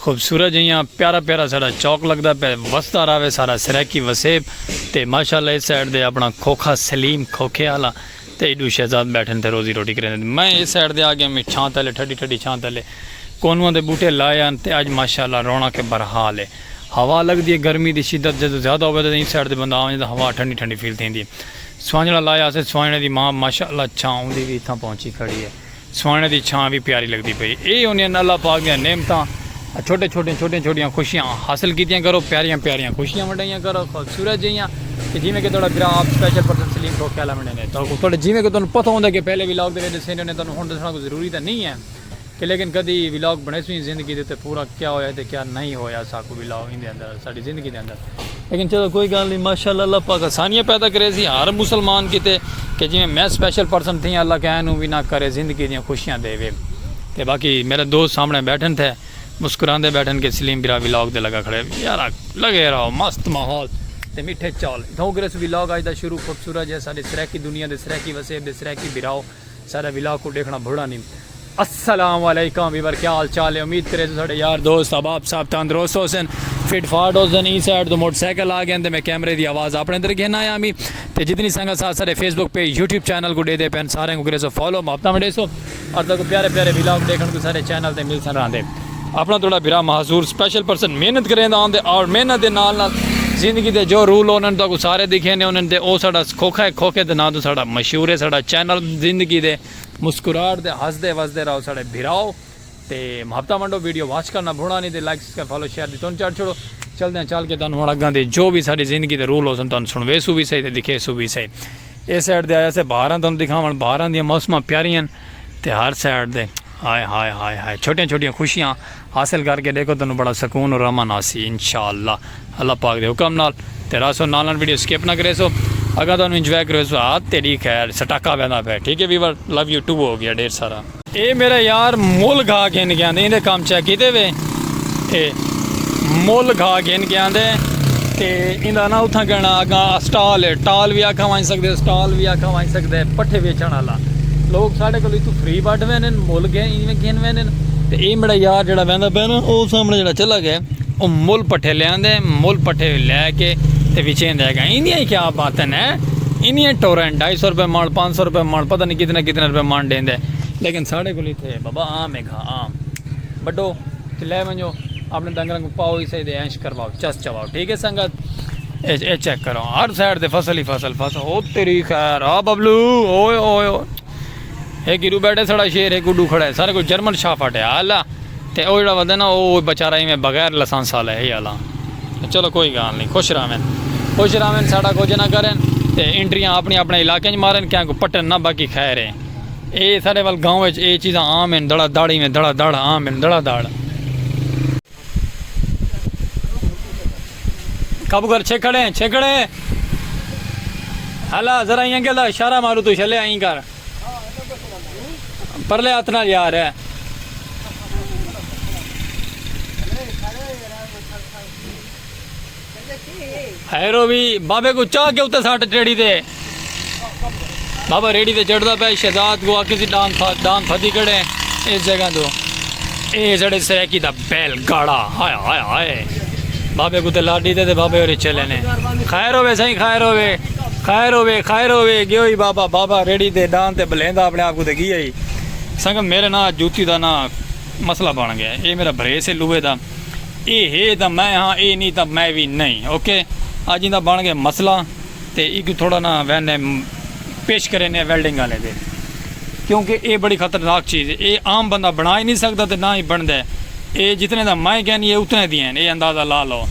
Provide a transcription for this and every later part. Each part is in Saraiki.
خوبصورت جیہاں پیارا پیارا ساڈا چوک لگدا پئے وسدا راوے سارا سرائیکی وسیب تے ماشاءاللہ اس سائیڈ دے اپنا کھوکھا سلیم کھوکھے آلا تے ایڈو شہزاد بیٹھن تے روزی روٹی کریندے تے میں اس سائیڈ دے آ گیاں میں چھاں تلے ٹھڈی ٹھڈی چھاں تلے کونواں دے بوٹے لائے آن تے اج ماشاءاللہ رونق بھرحال اے ہوا لگدی اے گرمی دی شدت جدوں زیادہ ہووے تاں اس سائیڈ تے بندہ آ ونجے تاں ہوا ٹھنڈی ٹھنڈی فیل تھیندی اے سوانجھڑا لایا اسے سوانجھڑے دی ماں ماشاءاللہ چھاں اوندی وی اتھاں پہنچی کھڑی اے سوہݨے دی چھاں وی پیاری لڳدی پئی اے انھیں اللہ پاک دیاں نعمتاں چھوٹے چھوٹیاں چھوٹیاں چھوٹیاں خوشیاں حاصل کیتیاں کرو پیاریاں پیاریاں خوشیاں ونڈائیاں کرو خوبصورت جیہیاں کہ جیویں کہ تہاݙا برا آپ سپیشل پرسن سلیم بھوک کیلا ونڈے نے تو تہاݙے جیویں کہ تہاݙوں پتہ ہوندا کہ پہلے ولاگ دے وچ ݙسے نے انھیں تہاݙوں ہݨ ݙسݨا کوئی ضروری تاں نہیں ہے کہ لیکن کدی ولاگ بݨیسوں ہی زندگی دے تے پورا کیا ہویا تے کیا نہیں ہویا ساکوں ولاگ ایندے اندر ساڈی زندگی دے اندر لیکن چلو کوئی گال نہیں ماشاءاللہ اللہ پاک آسانیاں پیدا کرے سی ہر مسلمان کیتے کہ جویں میں سپیشل پرسن تھیاں اللہ کہیں نو وی نہ کرے زندگی دیاں خوشیاں دے وے تے باقی میرے دوست سامنے بیٹھن تھے مسکراندے بیٹھن کہ سلیم بھرا وی لاگ دے لگا کھڑے یار لگے رہو مست ماحول تے میٹھے چال اتھوں گریس وی لاگ اج دا شروع خوبصورت جے ساڈے سرائیکی دنیا دے سرائیکی وسیب دے سرائیکی بھراو ساڈا ولاگ کوں ڈیکھنا بھلنا نی۔ السلام علیکم ویور کیا حال چال ہے امید کریسوں ساڈے یار دوست احباب سب تندرست ہوسن فٹ فاٹ ہوسن ایں سائیڈ توں موٹر سائیکل آ گئن تے میں کیمرے دی آواز اپنے اندر گھن آیا ہمی تے جتنی سنگت ساتھ ساڈے Facebook page YouTube channel کوں ڈیدے پن سارے کوں کریسو فالو محبتاں ونڈیسو اور تہاکوں پیارے پیارے ولاگ ڈیکھن کوں ساڈے چینل تے ملسن راہندے۔ اپنا تہاڈا بھرا معذور سپیشل پرسن محنت کریندا ہوندے اور محنت دے نال نال زندگی دے جو رول انہاں تہاکوں سارے دکھیندے ہوندن تے او ساڈا کھوکھا ہے کھوکھے دے ناں توں ساڈا مشہور ہے ساڈا چینل زندگی دے مسکراہٹ دے ہسدے وسدے رہو ساڈے بھراؤ تے محبتاں ونڈو ویڈیو واچ کرنا بھونا نی تے لائک سبسکرائب فالو شیئر دی تن چڑھ چھوڑو چلدیاں چل کے تہانوں ہن اگاں دے جو وی ساڈی زندگی دے رول ہوسن تہانوں سنڑویسوں وی سہی تے دکھیسوں وی سہی اے سائیڈ تے آیاسے بہاراں تہانوں دکھاون بہاراں دیاں موسماں پیاریاں ہن۔ تے ہر سائیڈ دے ہائے ہائے ہائے ہائے چھوٹیاں چھوٹیاں خوشیاں حاصل کر کے ڈیکھو تنوں بڑا سکون اور امن آسی انشاءاللہ اللہ پاک دے حکم نال تے راسو نال نال ویڈیو سکپ نہ کریسو اگاں تنوں انجوائے کریسو ہاں تیڈی خیر سٹاکا ویندا پے ٹھیک ہے ویور لو یو ٹو ہو گیا ڈھیر سارا۔ اے میرا یار مول گھا گھن گیاں دے ایندے کم چیک کیتے وے۔ اے مول گھا گھن کے آندے تے ایندا نا اتھاں کہنا اگا اسٹال ہے ٹال وی آکھا وائیں سکدے اسٹال وی آکھا وائیں سکدے پٹھے ویچن والا لوگ ساڈے کولو تو فری بٹ ویندے مول گھن ایویں گھن ویندے تے اے میرا یار جڑا ویندا پیا نا او سامنے جڑا چلا گیا او مول پٹھے لے آندے مول پٹھے لے کے تے وچین دے گا ایندیاں کیا باتیں نے انیاں ٹورن 250 روپے مال 500 روپے مال پتہ نہیں کتنا کتنا روپے مال دیندے لیکن ساڈے کولو تھے بابا عام ہے ہاں بڈو تے لے ونجو اپنے ڈنگراں کو پاؤ ہی سہی دے اینش کرواؤ چس چواؤ ٹھیک ہے سنگت اے چیک کرو ہر سائیڈ دے فصل ہی فصل فصل او تیری خیر آ ببلو اوئے اوئے اوئے اے گرو بیٹھے سڑا شیر ہے گڈو کھڑا ہے سارے کو جرمن شاہ پھٹے آلا تے او جڑا ودے نا او بیچارہ ایویں بغیر لسانس والا ہے آلا چلو کوئی گال نہیں خوش راوین خوش راوین ساڈا کچھ نہ کرن تے انٹریاں اپنی اپنے علاقے وچ مارن کیا کو پٹن نہ باقی خیر ہے اے ساڈے ول گاؤں وچ اے چیزاں عام ہن دڑا دڑ ایویں دڑا دڑ عام ہن دڑا دڑ۔ کب کر چھکڑے چھکڑے ہلا ذرا یہاں کے دا شارہ مارو تو شلے آئیں کر پرلے اتنا یار ہے ہیرو بھی بابے کو چاہ کے اتے ساٹھ ریڑی دے بابا ریڑی دے چڑھ دا پہ شہزاد کو آکے سی ڈان تھا ڈان تھا دی کڑے اس جگہ دو اے جڑے سریکی دا بیل گاڑا ہائے ہائے ہائے بابے کو تے لاڈی دے دے بابے اور چلے نے خیر ہوئے سائیں خیر ہوئے خیر ہوئے خیر ہوئے گیو ہی بابا بابا ریڑی دے ڈان تے بلین دا اپنے آپ کو تے گیا ہی سنگم میرے نا جوتی دا نا مسئلہ بان گیا اے میرا بھرے سے لوے دا اے ہے تاں میں ہاں اے نی تاں میں وی نئیں اوکے اج ایندا بن گئے مسئلہ تے ایکوں تھوڑا نا ویندے پیش کریندے ویلڈنگ آلے دے کیونکہ اے بڑی خطرناک چیز ہے اے عام بندہ بنا ہی نی سکدا تے نا ہی بندا اے جتنے دا میں کہنی اے اتنے دی ہن اے اندازہ لا لو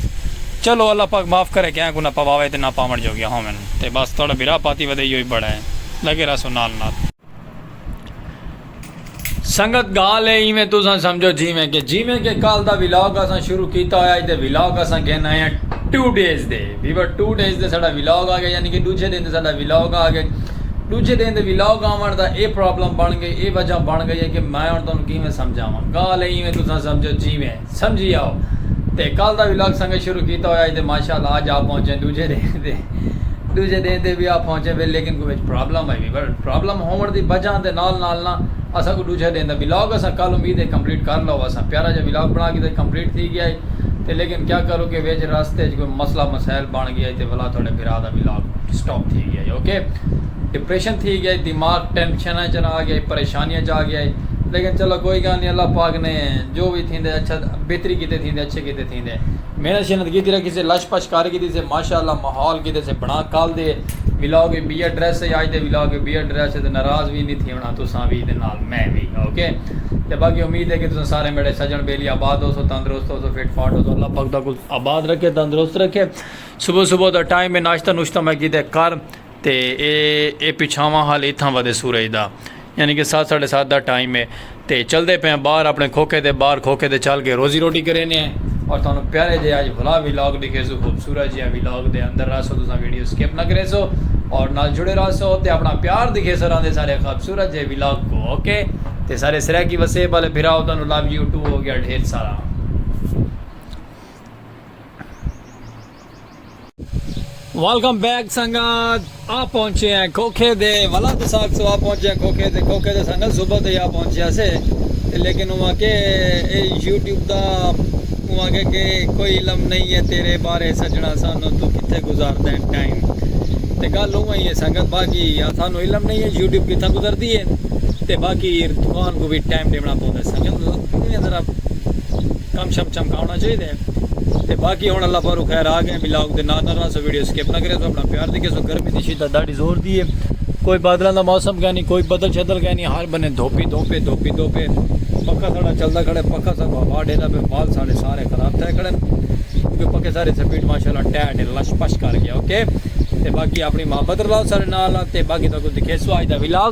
چلو اللہ پاک معاف کرے کہیں کوں نا پواوے تے نا پاون جوگیاں ہوون تے بس تہاڈا بھرا پاتی ودے ایہو ہی بڑا ہے لگے رہسوں نال نال۔ سنگت گال اے ایویں تساں سمجھو جیویں کہ جیویں کہ کل دا ولاگ اساں شروع کیتا ہویا تے ولاگ اساں گھن آئے ہیں ٹو ڈیز دے ویور ٹو ڈیز دے ساڈا ولاگ آ گیا یعنی کہ ڈوجھے دن دے ساڈا ولاگ آ گئے ڈوجھے دن دے ولاگ آون دا اے پرابلم بن گئی اے وجہ بن گئی ہے کہ میں ہن تانوں کیویں سمجھاواں گال اے ایویں تساں سمجھو جیویں سمجھی آؤ تے کل دا ولاگ سانگے شروع کیتا ہویا ہی تے ماشاءاللہ اج آ پہنچے دوجھے ڈینہہ تے دوجھے ڈینہہ تے وی آ پہنچے وے لیکن کوئی وچ پرابلم آئی وی پرابلم ہون دی وجہ دے نال نال نا اساں کو دوجھے ڈینہہ دا ولاگ اساں کل امید ہے کمپلیٹ کر لو اساں پیارا جا ولاگ بنا کیتے کمپلیٹ تھی گیا ہی تے لیکن کیا کروں کہ وچ راستے وچ کوئی مسئلہ مسائل بن گیا ہی تے ولا تھوڑے بھرا دا ولاگ سٹاپ تھی گیا ہی اوکے ڈپریشن تھی گیا ہی دماغ ٹینشن چ آ گیا ہی پریشانیاں چ آ گیا ہی لیکن چلو کوئی گال نہیں اللہ پاک نے جو وی تھیندے اچھا بہتری کیتے تھیندے اچھے کیتے تھیندے محنت شنت کیتی رکھی سے لش پش کر کیتی سے ماشاءاللہ ماحول کیتے سے بنا کل دے ولاگ وی بی ایڈریس ہے اج دے ولاگ وی بی ایڈریس ہے تے ناراض وی نی تھیونا تساں وی تے نال میں وی اوکے تے باقی امید ہے کہ تساں سارے میڈے سجن بیلی آباد ہوسو تندرست ہوسو فٹ فاٹ ہوسو اللہ پاک تاکوں آباد رکھے تندرست رکھے صبح صبح دا ٹائم ہے ناشتہ نوشتہ میں کیتے کر تے اے اے پچھاواں حال اتھاں ودے سورج دا یعنی کہ سات ساڑھے سات دا ٹائم ہے تے چلدے پے ہیں باہر اپنے کھوکھے دے باہر کھوکھے دے چل کے روزی روٹی کرینے ہیں اور تھانوں پیارے جے آج بھلا ویلاگ دکھے سو خوبصورت جے ویلاگ دے اندر رہ سو تساں ویڈیو سکپ نہ کرے سو اور نال جڑے رہ سو تے اپنا پیار دکھے سو راندے سارے خوبصورت جے ویلاگ کو اوکے تے سارے سرے کی وسے والے بھرا ہوتا نو لو یو ٹو ہو گیا ڈھیر سارا ویلکم بیک سنگت آ پہنچے ہیں کھوکھے دے والا تو ساتھ سو آ پہنچے ہیں کھوکھے دے کھوکھے دے سنگت صبح دے آ پہنچے ہیں سے لیکن ہوا کہ اے یوٹیوب دا ہوا کہ کہ کوئی علم نہیں ہے تیرے بارے سجنا سانو تو کتے گزار دیں ٹائم تے گل ہوا ہی ہے سنگت باقی سانو علم نہیں ہے یوٹیوب کتا گزار دی ہے تے باقی دکان کو بھی ٹائم دیونا پہنے سنگت ذرا کم شم چمکاؤنا چاہیے تے باقی ہن اللہ پاروں خیر آ گئے ولاگ دے نال نال رہسو ویڈیو سکپ نہ کریسو اپنا پیار دی کیسو گرمی دی شدت ڈاڈی زور دی ہے کوئی بادلاں دا موسم کینی کوئی بدل شدل کینی ہر بنے دھوپ ہی دھوپ ہے دھوپ ہی دھوپ ہے پکھا ساڈا چلدا کھڑے پکھا سب ہوا ڈیندا پے بال ساڈے سارے خراب تھے کھڑے کیونکہ پکھے سارے سپیڈ ماشاءاللہ ٹیٹ لش پش کر گیا اوکے تے باقی اپنی محبت رلاؤ سارے نال تے باقی تاکو دکھیسو اج دا ولاگ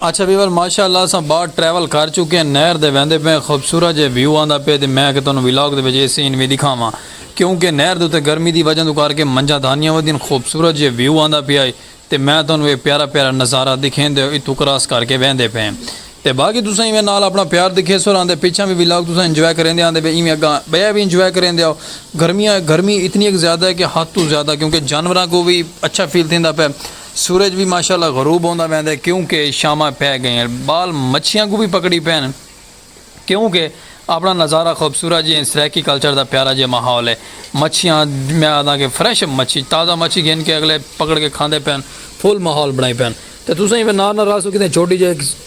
اچھا ویور ماشاء اللہ اساں باہر ٹریول کر چکے ہیں نہر دے ویندے پئے ہیں خوبصورت جے ویو آندا پئے تے میں آکھیا تانوں ولاگ دے وچ اے سین وی ڈکھاواں کیوں کہ نہر دے اتے گرمی دی وجہ توں کر کے منجھاں دھانیاں ودیاں خوبصورت جے ویو آندا پیا ہے تے میں تانوں اے پیارا پیارا نظارہ دکھیندے ہوئے اتھوں کراس کر کے ویندے پئے ہیں تے باقی تساں ایویں نال اپنا پیار دکھیسو اور آندے پچھاں وی ولاگ تساں انجوائے کریندے آندے پئے ایویں اگاں بئے وی انجوائے کریندے آؤ گرمیاں گرمی اتنی اک زیادہ ہے کہ حد توں زیادہ کیوں کہ جانوراں کوں وی اچھا فیل تھیندا پئے سورج وی ماشاء اللہ غروب ہوندا ویندے کیوں کہ شاماں پے گئین بال مچھیاں کوں وی پکڑی پین کیوں کہ اپنا نظارہ خوبصورت جی این سرائیکی کلچر دا پیارا جیا ماحول ہے مچھیاں میں آدھاں کہ فریش مچھی تازہ مچھی گھن کے اگلے پکڑ کے کھاندے پین فل ماحول بنائی پین تے تساں ہی نال نال رل سو کیتے چھوٹی جے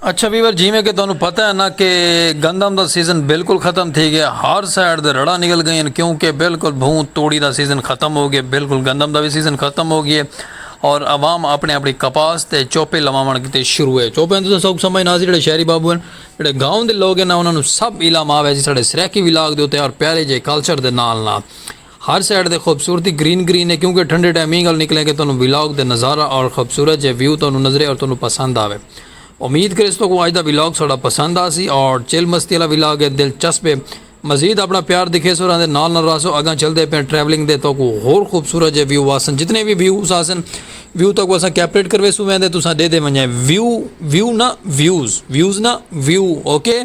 اچھا ویور جیویں کہ تہانوں پتہ ہے نا کہ گندم دا سیزن بالکل ختم تھی گئے ہر سائیڈ دے رڑاں نکل گئین کیوں کہ بالکل بھوں توڑی دا سیزن ختم ہو گئے بالکل گندم دا وی سیزن ختم ہو گئے اور عوام اپنی اپنی کپاس تے چوپے لواون کیتے شروع ہے چوپے تساں سوک سمجھ نہ جڑے شہری بابو ہیں جڑے گاؤں دے لوگ ہیں نا انہاں نوں سب علم آوے جی ساڈے سرائیکی ولاگ دے اوتے اور پیارے جے کلچر دے نال نال ہر سائیڈ تے خوبصورتی گرین گرین ہے کیونکہ ٹھنڈے ٹائم اینگل نکلیں کہ تہانوں ولاگ دے نظارہ اور خوبصورت جے ویو تہانوں نظرے اور تہانوں پسند آوے امید کریس تو کو اج دا ولاگ ساڈا پسند آسی اور چل مستی والا ولاگ ہے دل چسپ ہے مزید اپنا پیار دکھیس اور آندے نال نال راسو اگاں چلدے پین ٹریولنگ دے تو کو ہور خوبصورت جے ویو آسن جتنے بھی ویوز آسن ویو تو کو اساں کیپریٹ کروے سو ویندے تساں دے دے ونجائیں ویو ویو نا ویوز ویوز نا ویو اوکے okay?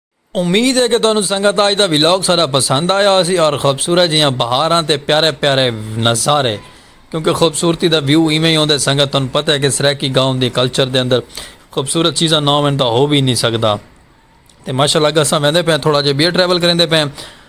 امید ہے کہ تہانوں سنگت آج دا ولاگ سارا پسند آیا ہوسی اور خوبصورت جیاں بہاراں تے پیارے پیارے نظارے کیونکہ خوبصورتی دا ویو ایویں ہی ہوندے سنگت تہانوں پتہ ہے کہ سرائیکی گاؤں دی کلچر دے اندر خوبصورت چیزاں نہ ہوون تاں ہو وی نہیں سکدا تے ماشاءاللہ گساں ویندے پئے تھوڑا جے بیر ٹریول کریندے پئے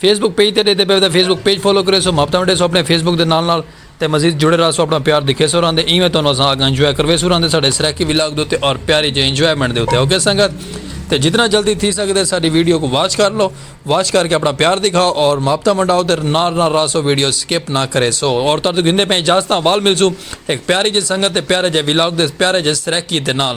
فیس بک پیج تے ڈیتے پیوتے فیس بک پیج فالو کریسو محبتاں ونڈیسو اپنے فیس بک دے نال نال تے مزید جڑے راہسو اپنا پیار دکھیسو راہندے ایویں تہانوں اساں آگاں انجوائے کرویسو راہندے ساڈے سرائیکی ولاگ دے اتے اور پیاری جے انجوائمنٹ دے اتے اوکے سنگت تے جتنا جلدی تھی سکدے ساڈی ویڈیو کوں واچ کر لو واچ کر کے اپنا پیار دکھاؤ اور محبتاں ونڈاؤ تے نال نال راہسو ویڈیو سکپ نہ کریسو اور تہاڈے توں گھندے پئیں اجازتاں وال ملسوں ہک پیاری جے سنگت تے پیارے جے ولاگ دے پیارے جے سرائیکی دے نال نال۔